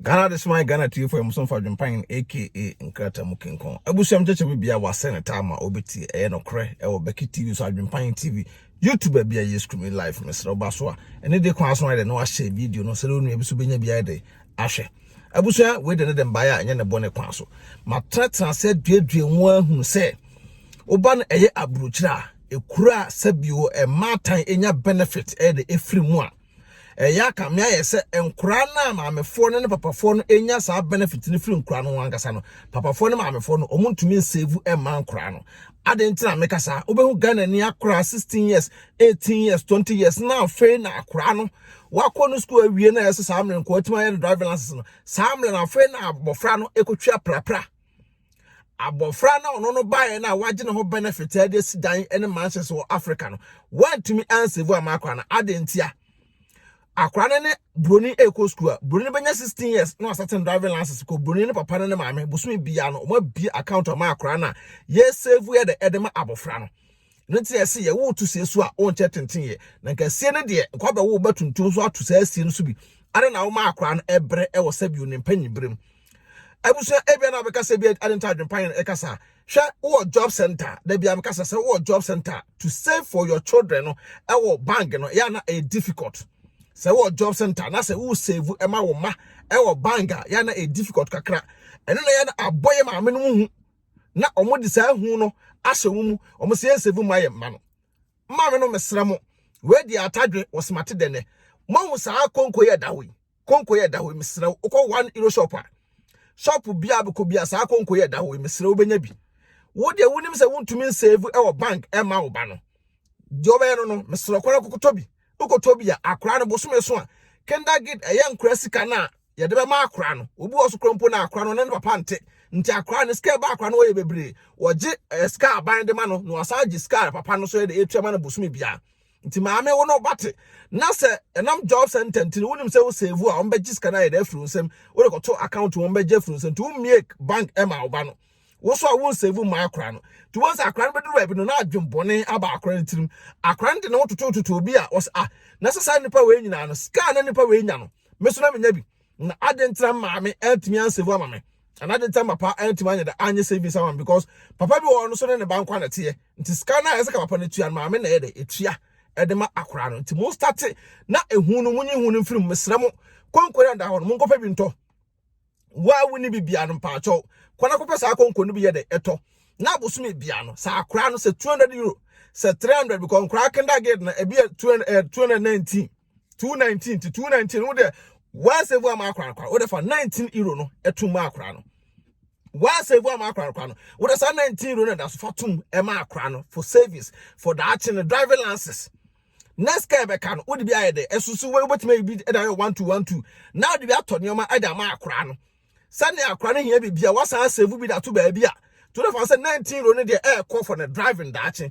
Ghana de soma Ghana tiefo yɛ muso mfa dwempan aka nkrata mu kinkɔn. Abusuam kyekye bi bia wase ne taa ma obeti ɛyɛ no korɛ ɛwɔ Becky TV so adwempan TV YouTube bia yɛ screaming live mesrɛ ba so a ɛne de kwan so ayɛ no ahyɛ video no sɛde onua bi so benya bia de ahwɛ. Abusua we de ne de mbae a ɛnyɛ ne bɔne kwan so. Matenatena sɛ duadua mu ahunu sɛ woba no ɛyɛ aburokyire a ekura sɛbio ɛmaatan enya benefit ɛyɛ de efiri mu a Ɛyɛ a kame ayɛ sɛ nkoraa no a maamefoɔ no ne papafoɔ no nya saa benefit no firi nkoraa no ho ankasa no, papafoɔ ne maamefoɔ no ɔmo ntumi nsevu mmaa nkoraa no. Aden nti na meka saa? Wobɛhu Ghana ni akoraa 16 years, 18 years, 20 years na afei na akoraa no wakɔ no school awie na ɛsɛ saa mmerɛ nkoraa tumi ayɛ no driving license no. Saa mmerɛ na afei na abɔfra no ɛkɔtwi aprapra. abɔfra na ɔno no baeɛ no a wagye ne ho benefit a ɛde asi dan ne mansions wɔ africa no wantumi ansave ama akora no ade ntia akora no ne broni ɛkɔ school a broni bɛnya 16 years na wasɛten driving license kɔ broni ne papa no ne maame bosome biara no wɔabie account ama akora no a yɛsave yɛ dɛ ɛde ma abɔfra no ne te ɛse yɛ wo to sie so a wonkyɛ tenten yɛ na nka sie no deɛ nkɔ bɛwo bɛtuntum so ato saa sie no so bi ade na woma akora no ɛbrɛ ɛwɔ sɛbi onimpa nyibrem abusua ebia na abɛka sɛ bi ade nta adwempa yɛn ɛka saa hwɛ wɔ job center da bi abɛka sɛ sɛ wɔ job center to save for your children no ɛwɔ bank no yɛ na ɛyɛ difficult sɛ wɔ job center na sɛ wo save ɛma wo ma ɛwɔ bank a yɛ na ɛyɛ difficult kakra ɛno na yɛ na abɔ yɛ maame no mu hu na wɔn de saa hu no ahyɛ wɔn mu wɔn sɛ yɛn save ma yɛ mma no maame no mesra mo wei di atadwe wɔ smate dɛnɛ mo ahu saa konko yɛ da hɔ yi konko yɛ da hɔ mesrɛ wo wokɔ one euro shop a shop bia bɛkɔ bia saa konko yɛ da hɔ mesrɛ wo bɛnya bi wo deɛ wonim sɛ wontumi nsave ɛwɔ bank ɛma wo ba no deɛ ɔbɛyɛ no no mesrɛ kora kokotɔ bi wokɔtɔ bi a akora no bosome so a kindagid ɛyɛ nkora sika no a yɛde bɛma akora no obi wɔ so kora mpo na akora no ne ne papa nte nti akora no sika ɛba akora no wɔyɛ bebree wɔgye eh, sika aban de ma no na wasan gye sika papa no so yɛde ɛtua ma no bosome biara nti maame wo na ɔba te na sɛ ɛnam job center nti wonim sɛ wo save a wɔn bɛgye sika no ayɛ dɛ afiri wo nsam wode kɔto account wɔn bɛgye afiri wo nsam nti wo mmie bank ɛma ɔba no wo so a wo nsave mmaa akora no nti wɔn sɛ akora no bɛduru baabi no na adwen bɔne aba akora no tirim akora no de ne ho totototo obi a wɔsɛ ah na sɛ saa nipa wei nyinaa no sika na nipa wei nya no me so na menya bi na adɛn ntina maame antumi ansevu ama me anaa adɛn ntina papa antumi anyɛ dɛ anyɛ savings ama me because papa bi wɔ hɔ no so ne ne ba nkwa na ɛteɛ nti sika no a ɛsɛ ka papa no tua no maame na ɛyɛ dɛ ɛtua ɛde ma akora no nti mo starte na ehu no monyi hu no mfiri mu mesrɛ mo konko na da hɔ no monkɔpɛ bi ntɔ wo a wonni bibia no mpaakyɛw kɔ na kɔpɛ saa konko no bi yɛ dɛ ɛtɔ na abosome bia no saa akora no sɛ 200 euro sɛ 300 because nkora kindergarten na ebi yɛ 219 two nineteen ti two nineteen wo de one save ama akora akora wo de fa nineteen euro no ɛtum ma akora no one save ama akora akora no wo de sa nineteen euro no da so fa tum ɛma akora no for savings for daakye no driving license next car bɛka no wo de bi ayɛ dɛ ɛsusu wo wobɛtumi ayi bi ɛda yɛ one two one two na wo de bi atɔ nneɛma ɛda ama akora no sɛnea akora no hia biribi a wasan save bi da to baabi a to de fa sɛ nineteen euro no deɛ ɛɛkɔ for ne driving daakye.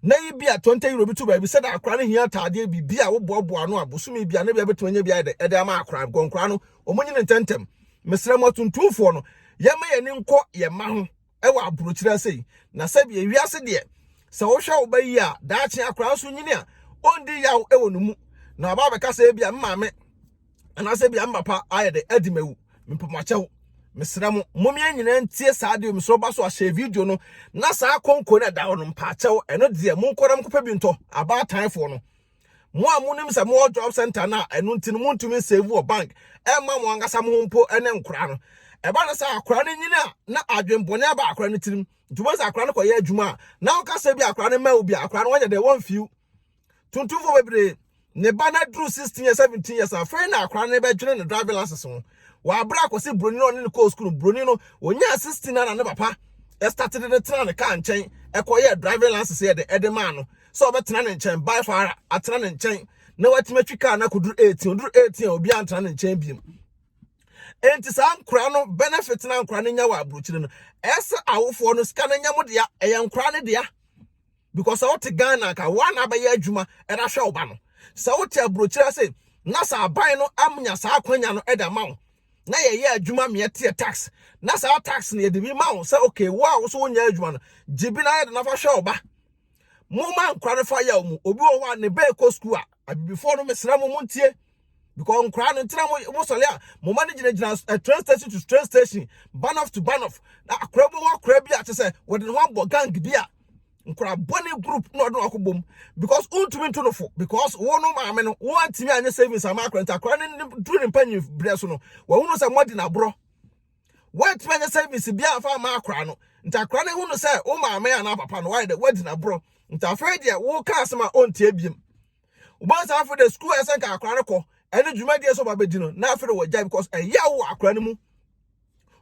Nnɛ yi bia Tonte Euro bi to baabi sɛda akora no hia ataadeɛ bi bia wo boa boa ano a bosome bia ne bia bɛtumi anya bia ɛdɛ ɛdɛ ama akora bcɔ nkora no ɔmo nyini ntɛntɛm mesrɛ mo atuntumfoɔ no yɛma yɛni nkɔ yɛn mma ho ɛwɔ abrokyire ase yi na sɛbi ewiase deɛ sɛ wohwɛ wo ba yi a daakye akora nso nyini a ɔndi yaw ɛwɔ ne mu na waba abɛka sɛ bia me maame anaasɛ bia me papa ayɛ dɛ adi mawu mepɛ mo akyɛw mesrɛ mo mo mmiɛ nyinaa ntie saa deɛ mesrɛ ɔba so ahyɛ video no na saa konko no ɛda hɔ no mpa akyɛw ɛno deɛ mo nkɔ na mo kɔpɛ bi ntɔ abaatanfoɔ no mo a mo nim sɛ mo wɔ job center na ɛno nti no mo ntumi nsave wɔ bank ɛma mo ankasa mo ho mpo ɛne nkora no ɛba no sɛ akora no nyini a na adwenbɔne aba akora no tirim nti wɔn sɛ akora no kɔyɛ adwuma a na ɔka sɛ bi akora no mma wo bi akora no wɔnyɛ dɛ wɔn fiw tuntumfo bebree ne ba no aduru 16 years 17 years afei na akora no bɛdwene ne driving license ho wɔabrɛ akɔsi buroni no ɔne no kɔɔ sukuu buroni no onyaa 16 na ne papa ɛstate de ne tena ne kaa nkyɛn ɛkɔyɛ driving license yɛ de ɛde maa no sɛ ɔbɛtena ne nkyɛn by far atena ne nkyɛn na watumi atwi kaa no akɔduru 18 ɔduru 18 a obi antena ne nkyɛn biom enti saa nkora no benefit na nkora no nya wɔ aburokyire no ɛsɛ awofoɔ no sika no nyɛ mo dea ɛyɛ nkora no dea because sɛ wote ghana nka woa na abɛyɛ adwuma ɛde ahwɛ wo ba no sɛ wote aburokyiri ase na sɛ aban no amnya saa akwanya no ɛde ama wo na yɛyɛ adwuma ma yɛteɛ tax na saa tax no yɛde bi ma wo sɛ okay wo a wo so wonyɛ adwuma no gye bi na yɛde no afa hwɛ wo ba momma nkora no fa yɛ wo mu obi wɔ hɔ a ne bɛɛ kɔ sukuu a abibifoɔ no mesrɛ mo montie Because nkwadaa no ntina mo mo sɔre a mo ma no gyinagyina eh, train station to train station banoff to banoff na akora bi hɔ akora bi a kyɛ sɛ wɔde ne ho abɔ gang bi a nkwadaa bɔne group na ɔde no akɔ bom because wontumi nto no fo because wo no maame no woantumi anyɛ savings ama akora nti akora no duru ne mpanyin berɛ so no wɔhunu sɛ moadi no aborɔ woantumi anyɛ savings biara fa ama akora no nti akora no hunu sɛ wo maame anaa papa no wayɛ dɛ woadi no aborɔ nti afei deɛ woka asɛm a ɔntie biem wɔn saa afei de sukuu a ɛsɛ nka akwadaa no kɔ ɛne dwumadie sɛ ɔba bɛdi no na afei de wɔgyae because ɛyɛ awo wɔ akwadaa no mu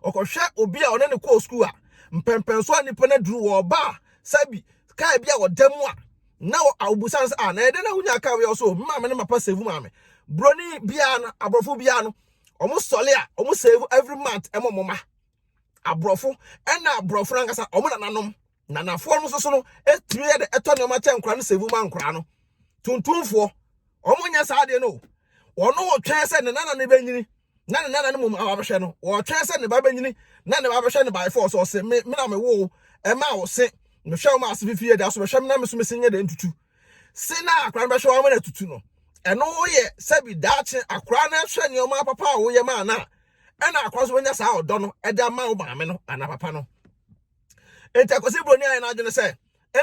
ɔkɔhwɛ obi a ɔne ne kɔɔ sukuu a mpɛmpɛn so a nipa no aduru wɔ ɔba a sɛbi kaa bi a ɔda mu a na awubusan sɛ a na ɛdɛ na wonya kaa wei ɔso mma me ne mapa save mu ame broni biara no aborɔfo biara no wɔn sɔle a wɔn save every month ɛmɔ mɔma aborɔfo ɛna aborɔfo ankasa wɔn nananom nanafoɔ no nso so no tumi yɛ dɛ tɔ nneɛma kyɛ nkora no sɛvu ma nkora no tuntumfoɔ wɔn nyɛ saa adeɛ no wɔn wɔtwɛn sɛ ne nana no bɛnyini na ne nana no mu aba bɛhwɛ no wɔtwɛn sɛ ne ba bɛnyini na ne ba bɛhwɛ no by force ɔse me me na me wo ɛma wo se mehwɛ wo ma ase fifie da so bɛhwɛ me na me so me se nyɛ dɛ ntutu se na akora no bɛhwɛ wɔn na tutu no ɛno woyɛ sɛbi daakye akora no hwɛ nneɛma papa a woyɛ ma ana ɛna akora so bɛnya saa ɔdɔ no ɛde ama wo maame no ana papa no enti akwasi buroni ayɛ n'adwene sɛ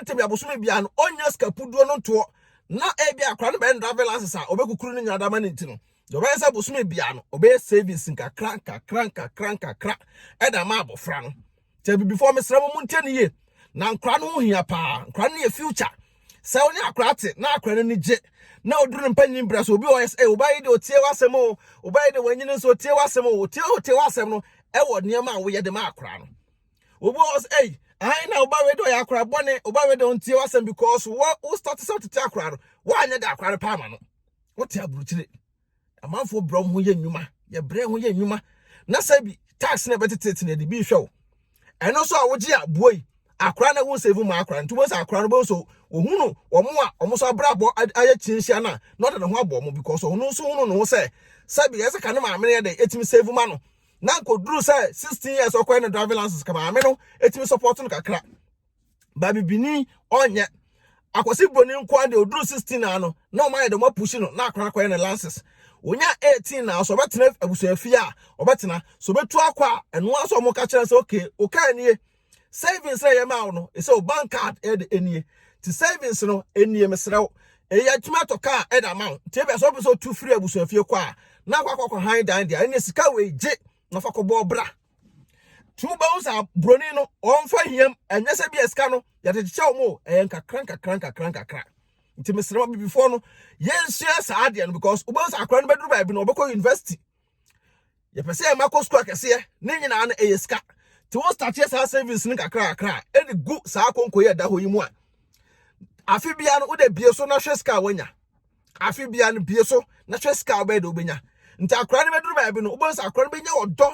ntɛbi abosome biara no ɔnya sika puduo no ntoɔ na ebi akora no bɛn driving license a ɔbɛkukuru ne nyinaa dama ne nti no deɛ ɔbɛyɛ sɛ abosome biara no ɔbɛyɛ savings nkakra nkakra nkakra nkakra ɛda ma abɔfra no sɛ bibifoɔ mesrɛ mo mo ntie ne yie na nkora no ho hia paa nkora no yɛ future sɛ wo ne akora te na akora no ani gye na ɔduru no mpanyin berɛ so obi wɔ yɛ sɛ wobayi de ɔtie w'asɛm o wobayi de w'anyini nso ɔtie w'asɛm o ɔtie ɔtie w'asɛm no ɛwɔ nneɛma a woyɛ de ma akora no obi wɔ hɔ sɛ ɛyi ahan na ɔba wei de ɔyɛ akora bɔne ɔba wei de ɔntie w'asɛm because wɔ wo start sɛ wotete akora no woanyɛ da akora no paa ma no wote aburukyire amanfoɔ brɛ wɔn ho yɛ nnwuma yɛbrɛ ho yɛ nnwuma na sɛ bi tax na ɛbɛtetete na ɛde bi hwɛ wo ɛno nso a wogye a buo yi akora na wo save ma akora nti wobɛhu sɛ akora no bɛhu so wɔhu no wɔn a wɔn nso abrabɔ ayɛ kyinhyia no a na ɔde ne ho abɔ wɔn because ɔno nso hunu ne ho sɛ sɛbi ɛsɛ ka ne maame no yɛ dɛ ɛtumi save ma no na nkoduru sɛ 16 years ɔkɔɛ no driving license ka maame no ɛtumi support no kakra ba bibini ɔnyɛ akwasi broni nkoa deɛ ɔduru 16 na ano na ɔma yɛ dɛ ɔma pushi no na akora kɔɛ no license onya 18 na so ɔbɛtena abusuafie a ɔbɛtena so ɔbɛtu akɔ a ɛnoa sɛ ɔmo ka kyerɛ sɛ okay okay nie Savings na yɛmaa wo no, ɛsɛ o bank card ɛde ɛnie. Ti savings no ɛnie mesrɛ wo. Ɛyɛ atumi atɔ kaa ɛde ama wo. Ti ɛbɛ sɛ ɔpɛ sɛ ɔtu firi abusuafie kɔ a, na akɔ akɔ kɔ han dan deɛ. Ɛne sika wei gye na fa kɔ bɔɔ bra. Ti wobɛhu sɛ aburoni no ɔmfa hiam. Ɛnyɛ sɛ bi a sika no yɛde kyekyɛ wo mo. Ɛyɛ nkakra nkakra nkakra nkakra. Nti mesrɛ wo bibifoɔ no, yɛnsua saa adeɛ no because wobɛhu sɛ akora no bɛduru baabi no ɔbɛkɔ university. yɛpɛ sɛ yɛma kɔ sukuu akɛseɛ ne nyinaa no ɛyɛ sika nti wo starteɛ saa savings no kakra kakra ɛde gu saa konko yɛ da hɔ yi mu a afe bia no wode bie so na hwɛ sika a woanya afe bia no bie so na hwɛ sika a wobɛyɛ de wobɛnya nti akora no bɛduru baabi no wobɛhu sɛ akora no bɛnya ɔdɔ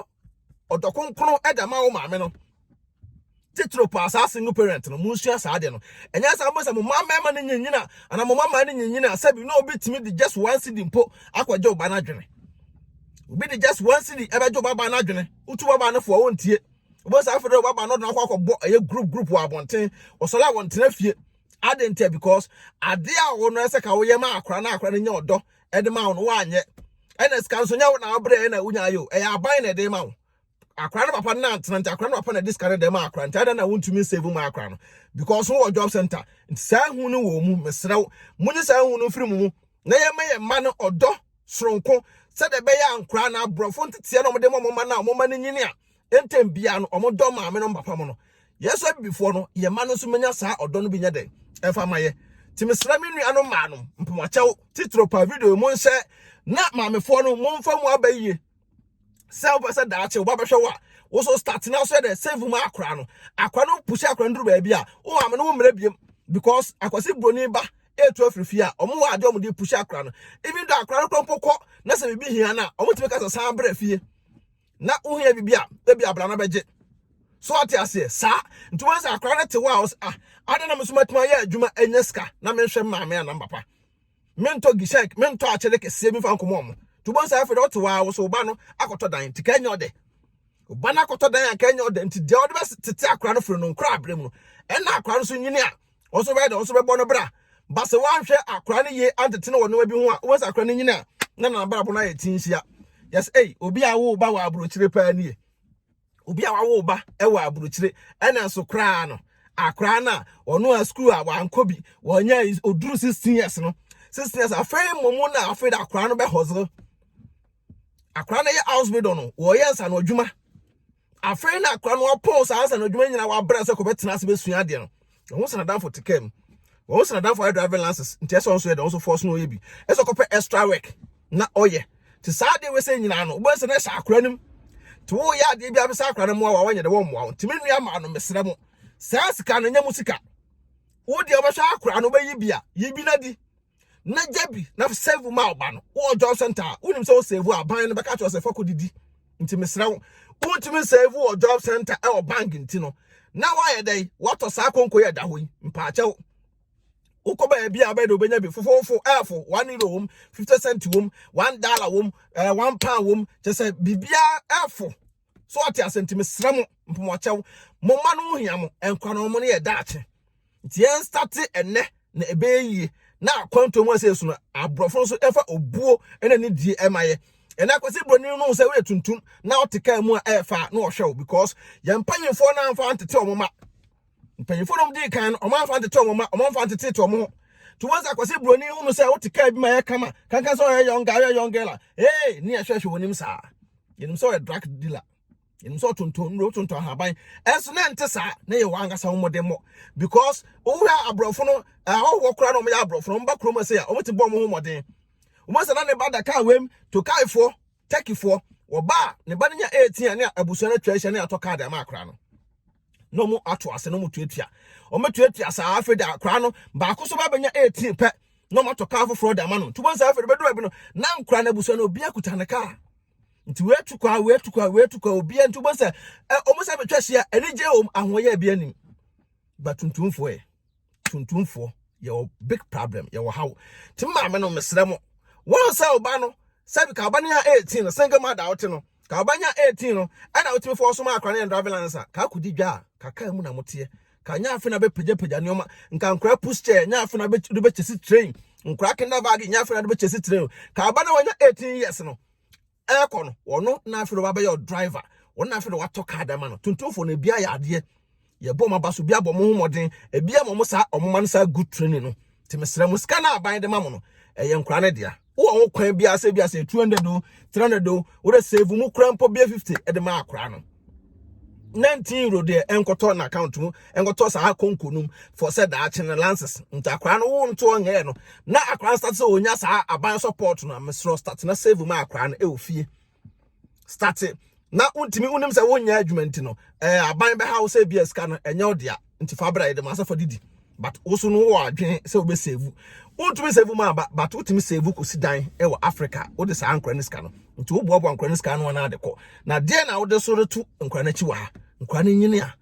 ɔdɔ kronkron ɛde ama wo maame no titiriw pa saa single parent no munsua saa ade no ɛnyɛ saa mo sɛ mo mma mmarima no nyinyin a anaa mo mma mmaa no nyinyin a sɛbi na obi tumi de just one cd mpo akɔgye ɔba no adwene obi de just one cd ɛbɛgye ɔba baa no adwene wotu baba no fo a wontie obi saa fɛdɛ ɔba baa no ɔdena akɔ akɔbɔ ɛyɛ group group wɔ abɔnten ɔsɔre a wɔntena fie ade ntia because ade a wɔn no ɛsɛ ka wɔyɛ ma akora na akora no nyɛ ɔdɔ ɛde ma wɔn wɔanyɛ ɛna sika nso nyɛ wɔn na wɔbrɛ ɛna wonya ayɛ o ɛyɛ aban na ɛde ma wɔn akora no papa no antena nti akora no papa na ɛde sika no dɛm akora nti adan na wontumi nsave mu akora no because wo wɔ job center nti saa hu no wɔ mu mesrɛ wo mo nye saa hu no mfiri mu mu na yɛma yɛ mma no ɔdɔ soronko sɛdeɛ ɛbɛyɛ a nkora no aborɔfo nteteɛ na wɔde ma wɔn mma no a wɔn mma no nyini a ntɛm biara no wɔn dɔ maame no papa mo no yɛsɔ abibifoɔ no yɛ mma no nso menya saa ɔdɔ no bi nyɛ dɛn ɛfa ma yɛ nti mesrɛ me nua no maa no mpamakyɛw titiro pa video mu nhyɛ na maamefoɔ no momfa mu aba yie sɛ wopɛ sɛ daakye wo ba bɛhwɛ wo a wo so start na so yɛ dɛ save mu akora no akora no pusi akora no duru baabi a wo maame no wo mmerɛ biem because akwasi buroni ba etu afiri fie a ɔmo wɔ adeɛ ɔmo de pusi akora no even though akora no kora mpo kɔ na sɛ biribi hia no a ɔmo tumi ka sɛ san brɛ fie na wohia biribi a ebi abra no bɛgye so ate aseɛ saa nti wɔn sɛ akora no te hɔ a ɔsɛ ah adɛn na me so matumi ayɛ adwuma anya sika na menhwɛ maame anam papa mentɔ gisɛk mentɔ akyɛde kɛseɛ bi mfa nkɔmɔ ɔmo nti wobɛhu sɛ afei deɛ wote hɔ a wo so wo ba no akɔtɔ dan nti ka nyɛ ɔdɛ wo ba no akɔtɔ dan a ka nyɛ ɔdɛ nti deɛ wode bɛtete akora no firi no nkora aberɛ mu no ɛna akora no so nyini a wɔn so bɛyɛ deɛ wɔn so bɛbɔ no bra ba sɛ woanhwɛ akora no yie antete no wɔ nneɛma bi ho a wobɛhu sɛ akora no nyini a na nanabrabɔ no ayɛ ti nhyia yɛs ei obi a wo ba wɔ aburokyire paa nie Obi a wawo ba wɔ aburokyire na nso koraa no, akoraa no a ɔno a sukuu a wankɔ bi, wɔnyɛ oduru 16 years no, 16 years afei mmom na afei da akoraa no bɛ hustle. Akoraa no yɛ house builder no, wɔyɛ nsa no adwuma. Afei na akoraa no apɔn saa nsa no adwuma nyinaa wabrɛ sɛ kɔbɛtena ase bɛsua adeɛ no. wɔn nso n'adamfo te kaa mu wɔn nso n'adamfo ayɛ driving license nti ɛsɛ wɔn nso yɛ dɛ wɔn nso force no ɔyɛ bi ɛsɛ ɔkɔpɛ extra work na ɔyɛ te saa adeɛ wei sɛ nyinaa no wɔn nso na ɛhyɛ akora nim te wo yɛ adeɛ bi abisa akora no mmoa wa wɔnyɛ dɛ wɔn mmoa wɔn te me nua maa no mesrɛ mo saa sika no nyɛ mo sika wo deɛ wɔbɛhwɛ akora no bɛyi bi a yi bi na di na gya bi na save ma ɔba no wɔ job center a wonim sɛ wo save a ban no bɛka kyerɛ sɛ fa kɔdidi nti mesrɛ wo wontumi save wɔ job center ɛwɔ bank nti no na woayɛ dɛn woatɔ saa konko yɛ da hɔ yi mpaakyɛw wokɔ baabi a wobɛde wobɛnya bi fofofo ɛfo one euro wom fifty cent wom one dollar wom ɛɛ eh, one pound wom kyɛ sɛ biribiara ɛfo so ɔte ase nti mesrɛ mo mpomɔkyɛw mo mma no hia mo nkwa no mo no yɛ daakye nti yɛn state ɛnɛ na ɛbɛyɛ yie na akwantuo mu ɛsɛ esu no aborɔfo nso ɛfa obuo ɛna ne die ɛma yɛ ɛna akwasi broni no sɛ woyɛ tuntum na ɔte kaa mu a ɛfa na ɔhwɛ wo because yɛn mpanyinfoɔ no amfa ntete wɔn ma mpanyimfo nom dii kan no wɔn amfa ntete wɔn mma wɔn amfa ntete wɔn ho to wɔn sɛ akwasi buroni ho no sɛ wote kaa bi ma yɛ kama kankan sɛ ɔyɛ young guy ɔyɛ young girl a ee ne yɛ hwɛhwɛ wɔn nim saa yɛnim sɛ ɔyɛ drug dealer yɛnim sɛ ɔtontɔn nnuro ɔtontɔn ahaban ɛnso na ɛnte saa na yɛ wɔn ankasa wɔn mmɔden mmɔ because wohwɛ aborɔfo no ahɔhoɔ koraa na wɔn yɛ aborɔfo no wɔn ba kurom ase a wɔn ti bɔ wɔn ho mmɔden wɔn sɛ na ne ba da kaa wɛm to kaafoɔ Turkeyfoɔ, wɔba a ne ba no nya 18 a ne abusua no atwa ahyia ne atɔ kaade ama akora no na wɔn ato ase na wɔn tuatua wɔn bɛtuatua saa afei de akora no baako so ba bɛnya 18 pɛ na wɔn atɔ kaa foforɔ de ama no nti wɔn nsa afei de bɛduru ebi no na nkora no abusua no obi akuta ne kaa nti wei atu kwa wei atu kwa wei atu kwa obi nti wɔn sɛ ɛ wɔn nsa bɛtwa hyia anigye wɔn ahoɔyɛ bi anim batuntumfoɔ yɛ. tuntumfoɔ yɛwɔ big problem yɛwɔ haw nti maame no mesrɛ mo wɔn sɛ ɔba no sɛbi ka ɔba no yɛ eighteen no single mother wote no ka ɔba nya eighteen no ɛna wotumi fɔ ɔsom akora no yɛn driving license a ka akɔdi dwa a ka kaa mu na moteɛ ka nya afe na bɛpagyapagya nneɛma nka nkora push chair nya afe na bɛkyɛsi train nkora kenda bag nya afe na bɛkyɛsi train ka ɔba no wɔnya eighteen years no ɛrekɔ no wɔno na afei de wabɛyɛ ɔdriver wɔn na afei de watɔ kaa dɛm ano tuntumfoɔ no ebi ayɛ adeɛ yɛbɔ wɔn aba so bi abɔ wɔn ho mmɔden ebi ama wɔn saa wɔn ma no saa good training no te mesrɛ mo sika no aban de ma mo no ɛyɛ nkora no dea wowɔ ho kwan bi asɛ bi asɛ two hundred o three hundred o wɔde save mu kura mpo bia fifty ɛde ma akora no nineteen euro deɛ ɛnkɔtɔ na account mu ɛnkɔtɔ saa konko nom for sɛ daakye no lances nti akora no wo ntoɔ nyɛɛ no na akora no start sɛ ɔnya saa aban support no mesrɛ start na save ma akora no ɛwɔ fie start na wontumi wonim sɛ wonyɛ adwuma nti no ɛɛ aban bɛha wo sɛ bia sika no ɛnyɛ wo dea nti fa bra yɛde ma asafo didi but wo so no wɔ adwene sɛ wobɛ save wontumi save mu aba but wotumi save kɔsi dan wɔ africa wode saa nkora no sika no nti woboaboa nkora no sika no ana ade kɔ na deɛ na wode so reto nkora no akyi wɔ ha nkora no nyini a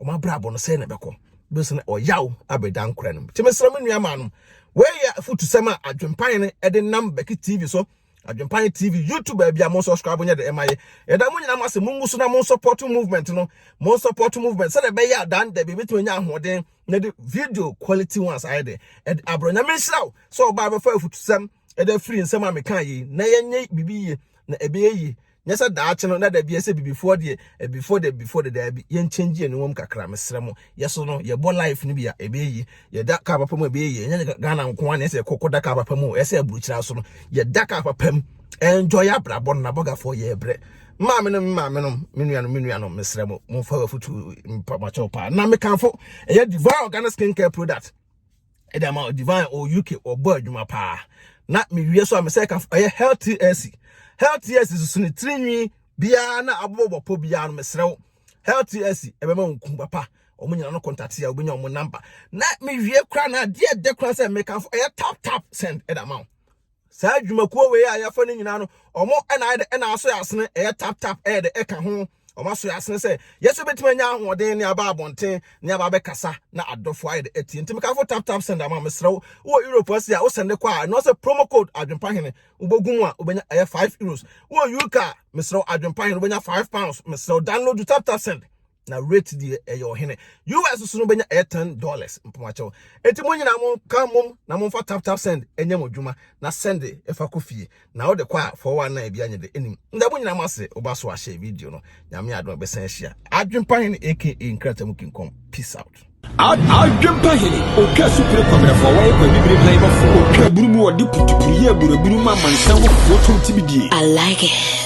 wɔn abrabɔ no sɛ na ɛbɛkɔ bɛsi na ɔyaw abɛda nkora no mu tumi srɛ me nua maa no wɔyɛ afutusɛm a adwempan no ɛde nam bɛki tv so Adwempan TV YouTube baabi a mo subscribe nyɛ de ɛma yɛ. Yɛda mo nyinaa mo ase mo ngu so na mo support movement no. Mo support movement sɛ de bɛyɛ adan da bi betumi nya ahoɔden na de video quality ones ayɛ de. Ɛde abro nya me nhyira wo sɛ ɔbaa bɛfa afutusɛm ɛde afiri nsɛm a meka yi na yɛnyɛ bibi yie na ɛbɛyɛ yie. Nyɛ sɛ daakye no na da biara sɛ bibifoɔ deɛ ɛbifoɔ deɛ bibifoɔ deɛ daabi yɛn change yɛn nwom kakra mesrɛ mo yɛ so no yɛbɔ life no bi a ɛbɛyɛ yie yɛda kaa papa mu a ɛbɛyɛ yie ɛnyɛ Ghana nko ara na ɛsɛ yɛkɔ kɔda kaa papa mu ɛsɛ aburukyira so no yɛda kaa papa mu ɛnjɔ yɛ abrabɔ no nabɔgafoɔ yɛ brɛ maame no maame no me nuanom me nuanom mesrɛ mo momfa wafutu mpakyɛw paa na mekamfo ɛyɛ devour Ghana skincare product ɛde ama o divine o uk wɔbɔ adwuma paa na mewie so a mesɛ ka ɛyɛ health ac health ac susu ne tirinwi biara na abobɔbɔpɔ biara no mesrɛ wo health ac ɛbɛma wo nku papa wɔn nyinaa no kɔntate a wobɛnya wɔn namba na mewie kora na adeɛ ɛdɛ kora sɛ mekamfo ɛyɛ tap tap send ɛde ama wo Saa adwumakuo wei a yɛafa no nyinaa no, wɔn na ayɛ dɛ na asoɛ asene, ɛyɛ tap tap, ɛyɛ dɛ ɛka ho. Wɔn asoɛ asene sɛ yɛ nso bɛtumi anya ahoɔden ne aba abɔnten ne aba abɛkasa na adɔfoɔ ayɛ dɛ atie. Nti mekamfo tap tap send ama mesrɛ wo. Wowɔ Europe ase a, wo sɛnde kɔ a, ɛno sɛ promo code adwenpahene wobɛgu mu a, wobɛnya ɛyɛ five euros. Wowɔ UK a, mesrɛ wo adwenpahene wobɛnya five pounds. Mesrɛ wo download tap tap send. na rate deɛ ɛyɛ ɔhene us so no bɛnya ɛyɛ ten dollars mpamakyɛw eti mo nyinaa mo ka mom na mo mfa tap tap send ɛnyɛ mo dwuma na send ɛfa kɔ fie na ɔde kɔ a fɔwɔ anan ebi anyɛ de enim nda mo nyinaa mo ase ɔba so ahyɛ video no nyame adom ɛbɛsan ahyia adwempa hene aka nkratam kinkɔm peace out adwempa hene ɔtwa supire kwabrɛfoɔ wɔyɛ kwa bibire ban bɔfo ɔtwa aburu mu ɔde putupuru yɛ aburaburu ma amansan wɔ foɔ tom tibidie I like it.